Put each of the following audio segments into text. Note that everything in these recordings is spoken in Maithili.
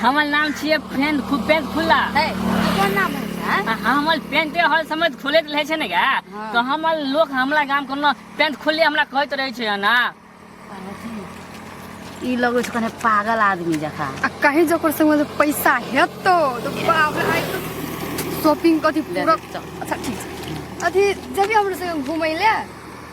हमर नाम छियै पेंट खूब पेंट खुल्ला है कोन नाम है हाँ? आ हमर पेंटे हर समय खोलैत रहै छै ने गे हाँ। तऽ हमर लोक हमरा गाम कोनो पेंट खोलले हमरा कहैत रहै छै ना ई लगै छै कने पागल आदमी जकाँ आ कहीं जकर संग जे पैसा हेतो तो बाप रे आइ तो शॉपिंग कथी ले पूरा दे, चल। अच्छा ठीक छै अथी जबी हमरो संग घुमै ले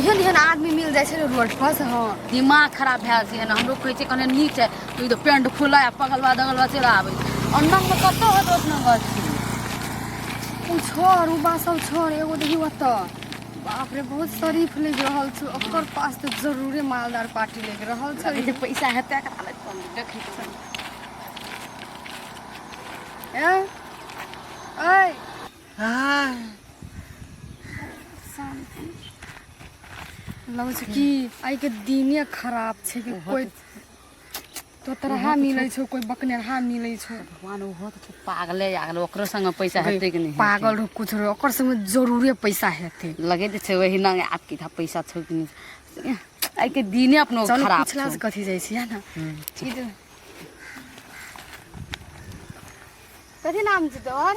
एहन एहन आदमी मिल जाइ छै ने रोड पर से हँ दिमाग खराब भए जाइ छै ने हमरो कहै छै कने नीच है तो ई तो पेंट खुला है पगलवा दगलवा चलि आबै छै और नंबर कतौ है दोस्त नंबर ओ छोड़ ओ बा सब छोड़ एगो देखी ओतऽ बाप रे बहुत शरीफ लग रहल छै ओकर पास तऽ जरूरे मालदार पार्टी लग रहल छै जे पैसा हेतै एकरा लग कम देखै छै ए ऐ लगै छै कि आइके दिने खराब छै कि कोइ तोतरहा मिलै छौ कोइ बकनेरहा मिलै छौ भगवान ओहो तऽ छै पागले आ गेल ओकरो संगे पैसा हेतै कि नहि पागल रहो कुछ रहो ओकर संगे जरूरे पैसा हेतै लगे तऽ छै वही ना आप की था पैसा छौ कि नहि आइ के दिने अपनो चल खराब पुछला छौ से कथी जाइ छियै ने ई जे- कथी नाम छै तोहर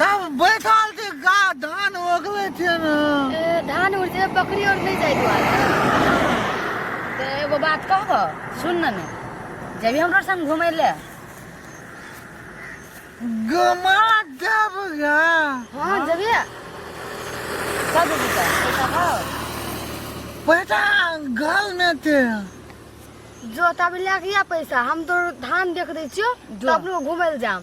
तब बैठल छी गा धान ओगले छै ने ए, धान उड़ जे बकरी और नहीं जाए दुआरे तो एगो बात कहब सुन न ने जबी हमरा संग घूमे ले गमा जब गा हाँ जबी कब जबी का पैसा हो पैसा घर में थे जो तब ले के या पैसा हम तो धान देख दै छियो तो अपनो घूमे ले जाम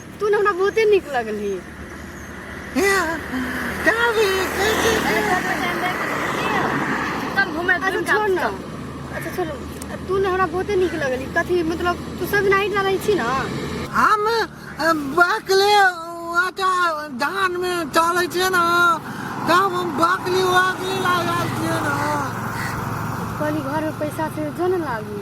तू ने हमरा बहुते नीक लगली अच्छा छोड़ ना अच्छा छोड़ तू ने हमरा बहुते नीक लगली कथी मतलब तू सब नाइट रहै छी ना हम बकले आटा धान में चले छे ना तब हम बकली वाकली लागल छे ना कहली घर में पैसा से जो ना लागी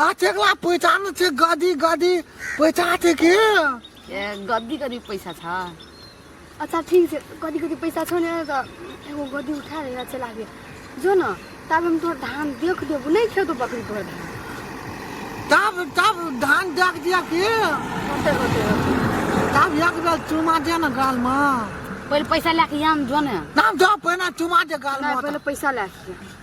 आ चेकला पैसा न छे गदी गदी पैसा छे के ए गद्दी गद्दी पैसा छ अच्छा ठीक छै कथी कथी पैसा छौ ने तऽ एगो गद्दी उठा ले चला गेल जो ने तब हम तोहर धान देख देबो नहि खेतो बकरी तोहर धान तब तब धान देख दिया के होते होते होते तब एक बेर चुमा दे न गाल म पहिले पैसा लए के आम जो ने नाम दो पहिना चुमा दे गाल नहि म पहिले पैसा लए के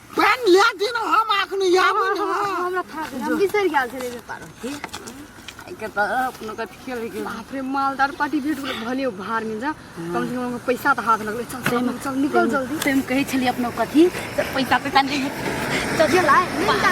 पानि लए दिन हम अखन आबै ने हमरा था गेल हम बिसरि गेल छलै जे पारो के त अपनो कथि खेल गेल बाप रे मालदार पार्टी भेट गेल भने ओ भार मिल जा कम से कम हमके पैसा तऽ हाथ लगलै चल चल चल निकल जल्दी से हम कहै छलियै अपनो कथी से पैसा पैसा नहि चल चल आइ मिल जा